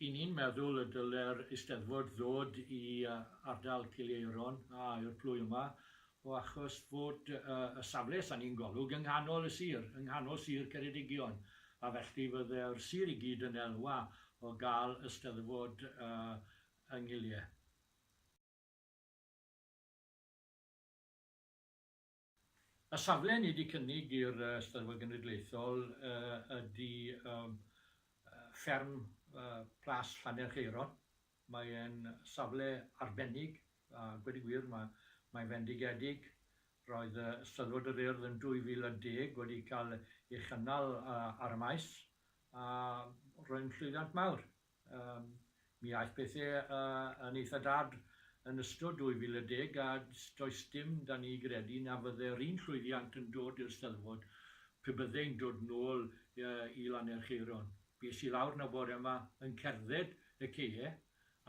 Y'n ni'n meddwl y dylai'r Eisteddfod ddod i ardal Cileiron, a yw'r plwy yma, o achos fod y safle, os 'da ni'n Golwg, yng nghanol y sir, yng nghanol sir Ceredigion, a felly fydde'r sir i gyd yn elwa o gael Eisteddfod yng Ngiliau. Y safle ni 'di cynnig i'r Steddfod Genedlaethol ydi fferm Plas Llanerchaeron. Mae e'n safle arbennig a gweud y gwir ma' mae fendigedig. Roedd y Steddfod yr Urdd yn 2010 wedi cael ei chynnal ar y Maes a roedd yn llwyddiant mawr. Yym, mi aeth pethe yn eitha dad yn ystod 2010 a does dim 'da ni gredu na fydde'r un llwyddiant yn dod i'r Steddfod pe byddei'n dod nôl i Lanerchaeron. Bues i lawr 'na bore 'ma yn cerdded y caee,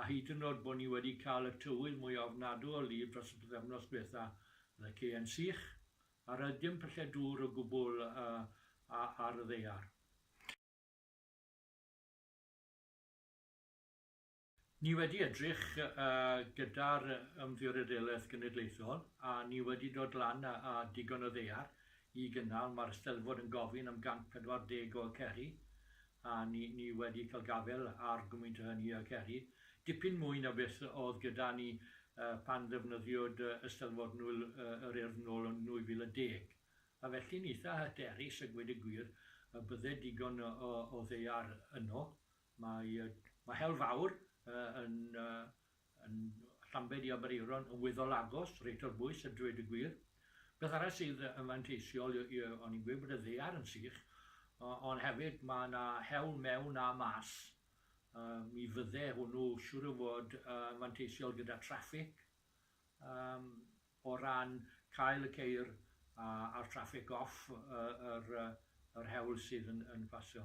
a hyd yn o'd bo' ni wedi cael y tywydd mwya ofnadw o lif dros y pythefnos dwetha, o'dd y caee'n sych, a roedd dim pyllau dŵr o gwbwl ar y ddaear. Ni wedi edrych gyda'r Ymddiriedolaeth Genedlaethol a ni wedi dod lan â digon o ddaear i gynnal, mae'r Eisteddfod yn gofyn am 140 o Aceri a ni ni wedi cael gafael ar gymwynt o hynny o Aceri, dipyn mwy na beth oedd gyda ni pan ddefnyddiwyd Eisteddfod Nwyl yr Urdd nôl yn 2010. A felly'n eitha' hyderus a gweud y gwir y bydde digon o ddaear yno. Mae mae Hel Fawr yn yn Llambed i Aberaeron yn weddol agos, reit ar bwys a dweud y gwir. Beth arall sydd yn fanteisiol yw o'n i'n gweud bod y ddaear yn sych ond hefyd mae 'na hewl mewn a mas. Yym mi fydde hwnnw siŵr o fod yn fanteisiol gyda traffig. Yym. O ran cael y ceir a'r traffig off yr hewl sydd yn pasio.